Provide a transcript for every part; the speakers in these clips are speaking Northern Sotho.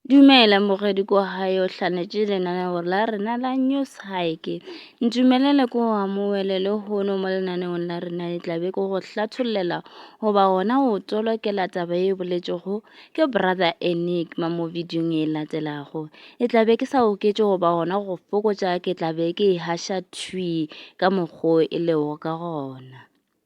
Dumela morwedi ko gae o hlanetše lenaneo la rena la news hike ntumelele ko amoele le hono mo lenaneong la rena le tlabe ko go hlatholela goba gona o tolokela taba e boletšego ke brother enigma mo videong e latelago e tlabe ke sa oketše goba gona go fokotša ke tlabe ke e hasha twi ka mokgwa e lego ka gona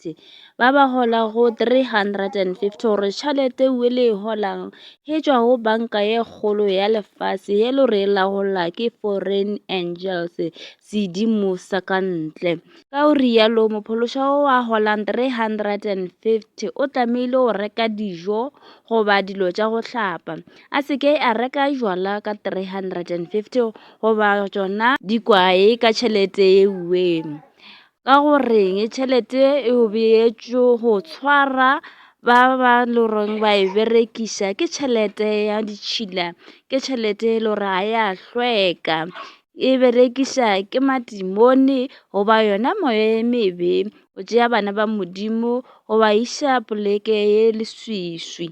50 ba ba holago 350 gore tšhalete we le e holang he tšwa go banka ye kgolo ya lefase ye lo re lagola ke foreign angels sedimo sa ka ntle ka o rialo mophološa wo wa holang 350 o tlamehile go reka dijo goba dilo tša go hlapa a se ke a reka jwala ka 350 goba tšona dikwae ka tšhalete ye weng ka go reng tšhelete e o beetšwe go tshwara ba ba loreng ba e berekiša ke tšhelete ya ditšhila ke tšhelete e le gore ga ya hlweka e berekiša ke matimone goba yona moya e mebe o tšea bana ba modimo go ba iša poleke ye leswiswi.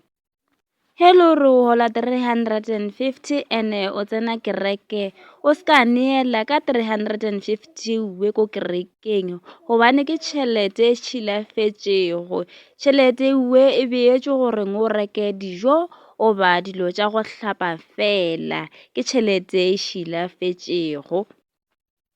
Hello re o hola 350 ene o tsena kereke o se ka neela ka 350 we ko kerekeng gobane ke tšhelete e tšhilafetšego tšhelete we e beetšwe gore o reke dijo o ba dilo tša go hlapa fela ke tšhelete e šilafetšego.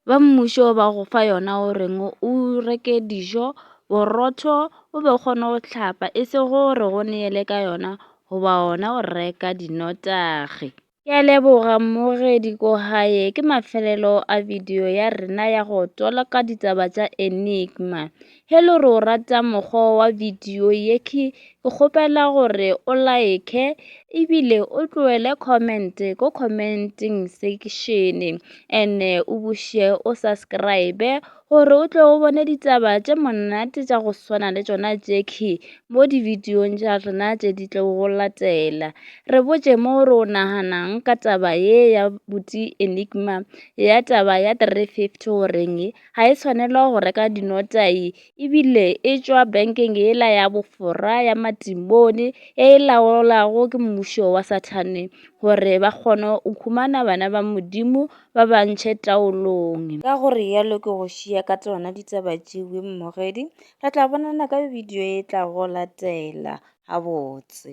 ba mmušo ba go fa yona o reng o reke dijo borotho o be o kgone go hlapa e se gore go neele ka yona goba ona o reka dinotagi ke a leboga mmogedi ko gae ke mafelelo a video ya rena ya go tolaka ditaba tša enigma Hello re o rata mokgwa wa video ye ke kgopela gore o like ebile o tloele comment ko commenting section and o buše o subscribe gore o tle o bone ditaba tše monate tša go swana le tšona Jackie mo di video tša rena tše di tlo go latela re botše mo re o naganang ka taba ye ya buti enigma ya taba ya 350 o reng ga e tshwanelwa go reka dinotai e bile e tšwa bankeng yela ya bofora ya matimone e e laolwago ke mmušo wa sathane gore ba kgone go khumana bana ba modimo ba ba ntšhe taolong ka go rialo ke go šia ka tsona ditaba tšewe mmogedi re tla bonana ka bidio e tla go latela gabotse